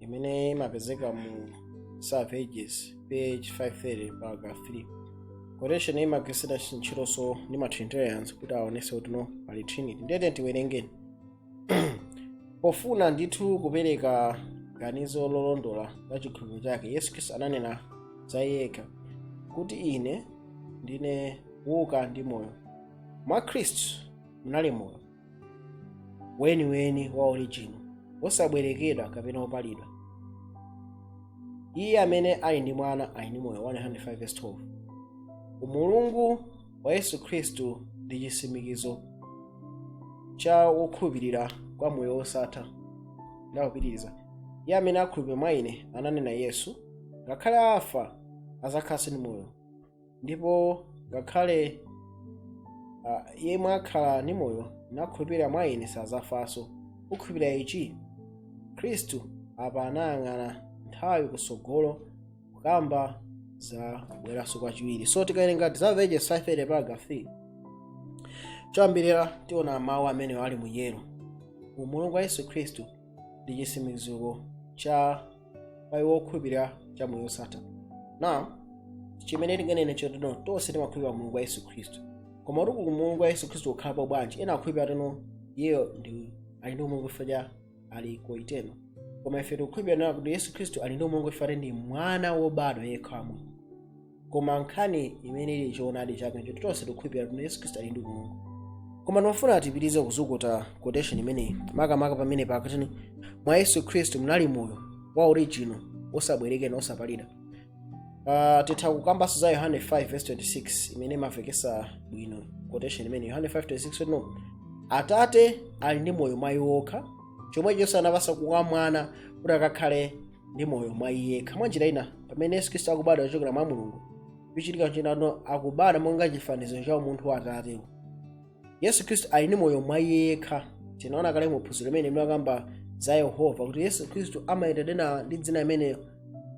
imene imapezeka mu Desire of Ages page 530 paragraph 3 quotation imagwiritsidwa ntchitonso ndi ma trinitarians kuti aonese kuti no pali trinity ndiye tiwerengeni pofuna ndithu kupereka ganizo lolondola la chikhulupiriro chake yesu khristu ananena za yekha kuti ine ndine kuuka ndi moyo mwa khristu munali moyo weniweni wa original wosabwerekedwa kapena wopalidwa iye amene ali ndi mwana ali ndi moyo 1 john 5:12 umulungu wa yesu khristu ndi chisimikizo cha wokhulupirira kwa moyo wosatha nde akupitiriza iye amene akhulupirira mwa ine ananena yesu ngakhale afa azakhalanso ndi moyo ndipo ngakhale ah, yemwe akhala ndi moyo nakhulupirira mwa ine sazafanso ukhulupirira ichi khristu apa anayang'ana nthawi kutsogolo kukamba za kubweranso kwachiwiri so tikawerenga Desire of Ages 530 paragraph 3 choyambirira tiona mawu amene ali mu yellow umulungu wa yesu khristu ndi chitsimikiziro cha kwa iwo okhulupirira cha moyo wosatha now chimene tinganene nchoti no tonse timakhulupirira umulungu wa yesu khristu koma kuti umulungu wa yesu khristu ukhalapo bwanji ena akhulupirira kuti no iyeyo ndi ali ndi umulungu chifukwa cha ali co-eternal koma ife tikukhulupirira kuti yesu khristu ali ndi umulungu chifukwa ndi mwana wobadwa yekha wa mulungu koma nkhani imene ili choonadi chake nchoti tonse tikukhulupirira kuti yesu khristu ali ndi umulungu koma ndimafuna tipitirize kuzukuta quotation imeneyi makamaka pamene pakuti no mwa yesu khristu munali moyo wa original osabwerekedwa osapalidwa uh, titha kukambanso za yohane 5:26 imene imamvekesa bwino quotation imene yohane 5:26 no atate ali ndi moyo mwa iwo okha chomwechonso anapasa kwa mwana kuti akakhale ndi moyo mwa iye yekha mwa njira ina pamene yesu khristu akubadwa kuchokera mwa mulungu chochitika nchoti no akubadwa monga chifaniziro cha umunthu wa atate yesu khristu ali ndi moyo mwa iye yekha tinaona kale mu phunziro limene linakamba za yehova kuti yesu khristu amaitanidwa ndi dzina imeneyo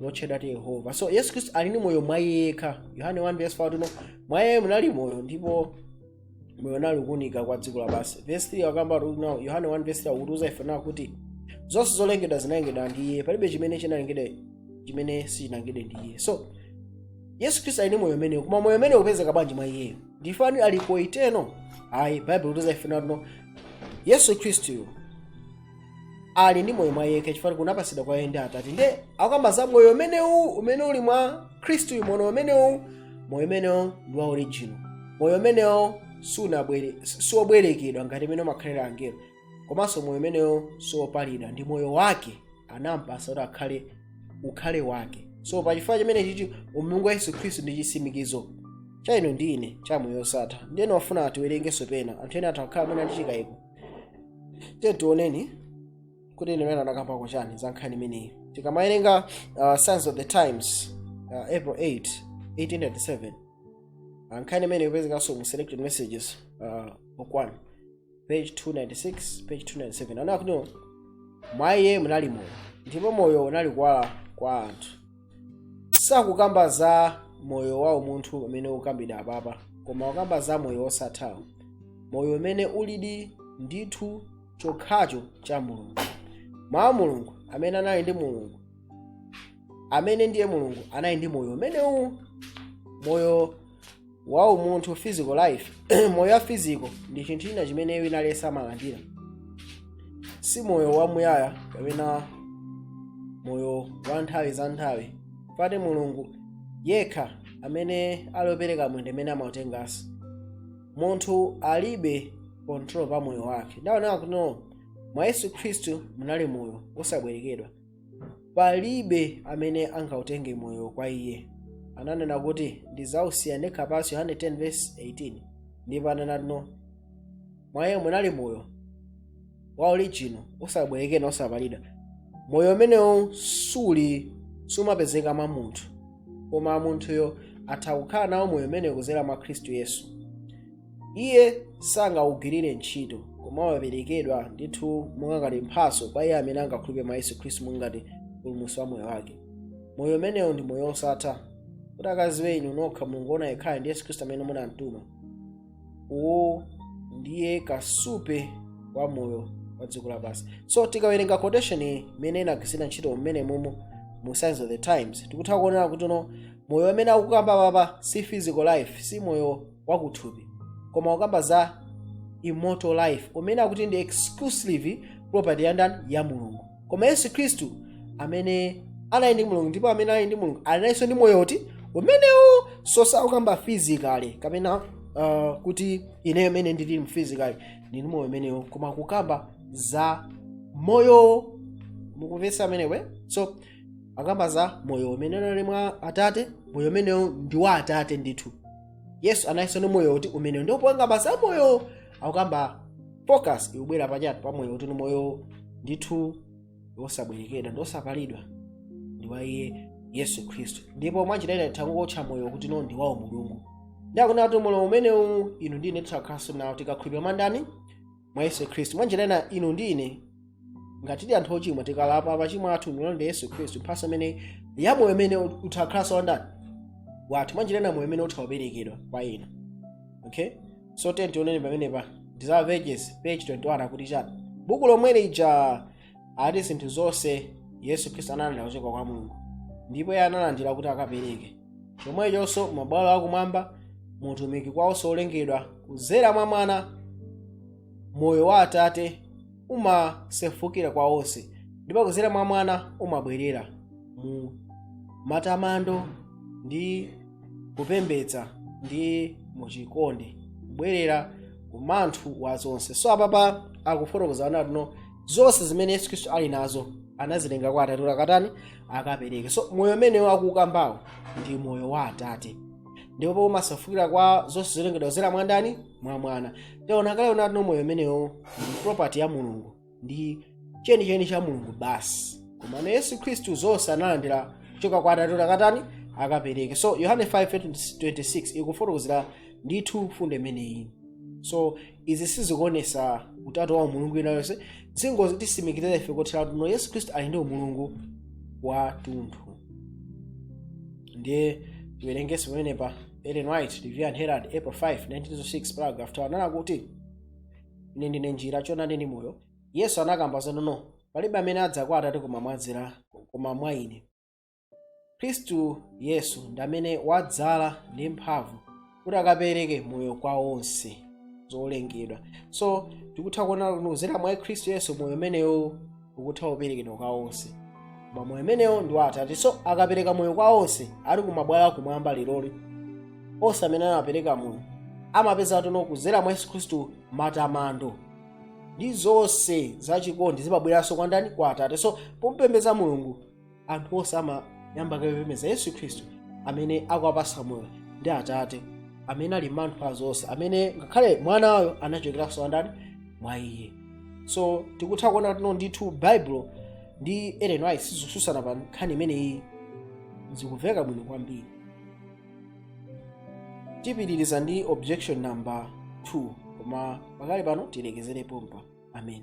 lotchedwa kuti yehova so yesu khristu ali ndi moyo mwa iye yekha yohane 1 verse 4 akuti no mwa iye munali moyo ndipo moyo unali kuunika kwa dziko lapansi vesi 3 akamba kuti no yohane 1 vesi 3 akutiuza ife nawo kuti zonse zolengedwa zinalengedwa ndi iye palibe chimene chinalengedwa chimene sichinalengedwe ndi iye so yesu khristu ali ndi moyo umenewu koma moyo umenewu upezeka bwanji mwa iyeyo ndi chifukwa ali co-eternal ayi bible ikutiuza ife nawo yesu khristuyo ali ndi moyo mwa yekha chifukwa kunapatsidwa kwa iye ndi atate nde akukamba za moyo umenewu umene uli mwa khristu uyu moyo umenewu moyo umenewo ndi wa original moyo umenewo sunabwere siwobwerekedwa ngati mmene amakhalira angelo komanso moyo umenewo siwopalidwa ndi moyo wake anampasa kuti akhale ukhale wake so pa chifukwa chimene chichi umulungu wa yesu khristu ndi chitsimikizo cha inu ndi ine cha moyo osatha ndiyeno ndafuna tiwerengenso pena anthu ena atha kukhala amene ali ndi chikayiko tiye tioneni kuti iyenso anakambako chani za nkhani imeneyi tikamawerenga uh, signs of the times uh, april 8 1897 uh, nkhani imeneyi ikupezekanso mu selected messages uh, book 1 page 296 page 297 anakuti mwa iye munali moyo ndipo moyo unali kuwala kwa anthu sakukamba za moyo wa umunthu umene ukukambidwa apapa koma akukamba za moyo wosathawo moyo umene ulidi ndithu chokhacho cha mulungu mawu a mulungu amene anali ndi mulungu amene ndiye mulungu anali ndi moyo umenewu moyo wa umunthu physical life moyo wa physical ndi chinthu china chimene wina aliyense amalandira si moyo wamuyaya kapena moyo wa nthawi za nthawi pakuti mulungu yekha amene ali opereka moyo ndi amene amautenganso munthu alibe control pa moyo wake ndaonera kuti no mwa yesu khristu munali moyo osabwerekedwa palibe amene angautenge moyo kwa iye ananena kuti ndizausiya ndekha pansi yohane 10 verse 18 ndipo ananena kuti no mwa iye munali moyo wa orijino osabwerekedwa osapalidwa moyo umenewu suli sumapezeka mwa munthu koma munthuyo atha kukhala nawo moyo umenewu kuzera mwa khristu yesu iye sangawugwirire ntchito koma waperekedwa ndithu monga ngati mphatso kwa iye amene angakhulupe mwa yesu khristu monga ngati mpulumutsi wa moyo wake moyo umenewo ndi moyo wosatha kuti akaziwe inu nokha mulungu wona yekhayo ndi yesu khristu amene munamtuma uwu ndiye kasupe wa moyo wa dziko lapansi so tikawerenga quotation iyi imene inagwiritsidwa ntchito mmenemumu mu signs of the times tikutha kuonera kuti no moyo umene akukamba apapa si physical life si moyo wakuthupi koma akukamba za immortal life umene akuti ndi exclusive property ya ndani ya mulungu koma yesu khristu amene anali ndi mulungu ndipo amene ali mulungu alinso ndi moyo uti umenewu so sakukamba physically kapena uh, kuti ineyo mmene ndili physically ndili ndi moyo umenewu koma kukamba za moyo mukumvetsa amenewo so akamba za moyo umene uli mwa atate moyo umenewo ndi wa atate ndithu yesu analinso ni moyo uti umenewo ndipo pokamba za moyo akukamba focus ikubwera pachatu pa moyo uti ni moyo ndithu wosabwerekedwa ndi wosapalidwa ndi wa iye yesu khristu ndipo mwanjira ina tangotcha moyo kuti no ndi wawo mulungu ndiye akunena kuti moyo umenewu inu ndine titakhalanso nawo tikakhulupirira mwa ndani mwa yesu khristu mwanjira ina inu ndi ine ngati tili anthu ochimwa tikalapa machimo athu ndi kulondola yesu khristu mphatso imene yamoyo imene utakhalanso wandani wathu mwanjira ina moyo umene utaperekedwa kwa inu okay so tioneni pamenepa desire of ages page 21 akuti chani buku lomwe lija ati zinthu zonse yesu khristu analandira kuchoka kwa mulungu ndipo iye analandira kuti akapereke chomwechonso m'mabwalo akumwamba mutumiki kwa onse olengedwa kudzera mwa mwana moyo wa atate umasefukira kwa onse ndipo kudzera mwa mwana umabwerera mu matamando ndi kupembedza ndi muchikondi kubwerera kumanthu wa zonse so apapa akufotokoza anati no zonse zimene yesu khristu ali nazo anazitenga kwa atate kuti akatani akapereke so moyo umenewo akukambawo ndi moyo wa atate ndipo umasefukira kwa zonse zolengedwa kudzera mwa ndani mwa mwana taona kale anati no moyo umenewo ndi property ya mulungu ndi chenicheni cha mulungu basi komano yesu khristu zonse analandira kuchoka kwa atate kuti akatani akapereke so yohane 5:26 ikufotokozera ndithu mfundo imeneyi so izi sizikuonesa utatu wa umulungu wina uliwonse zikungotitsimikizira ife kotheratu no yesu khristu ali ndi umulungu wa tunthu ndiye tiwerengenso pamenepa ellen white review and herald april 5 1906 paragraph 2 ananena kuti ine ndine njira choonadi ndi moyo yesu anakamba zonono palibe amene adza kwa atate koma modzera koma mwa ine khristu yesu ndi amene wadzala ndi mphamvu kuti akapereke moyo kwa onse zolengedwa so tikutha kuona kuti kudzera mwa khristu yesu moyo umenewo ukutha kuperekedwa kwa onse koma moyo umenewo ndi wa atate so akapereka moyo kwa onse ali kumabwalo akumwamba leroli onse amene amapereka moyo amapeza kuti no kudzera mwa yesu khristu matamando ndi zonse zachikondi zimabweranso kwa ndani kwa atate so pompembedza mulungu anthu onse amayamba kupembedza yesu khristu amene akuwapatsa moyo ndi atate amene ali manthu a zonse amene ngakhale mwanayo anachokeranso andani mwa iye so tikutha kuona kuti no ndithu bible ndi ellen white sizikutsutsana pa nkhani imeneyi zikumveka bwino kwambiri tipitiriza ndi objection number 2 koma pakali pano tilekezere pompa amen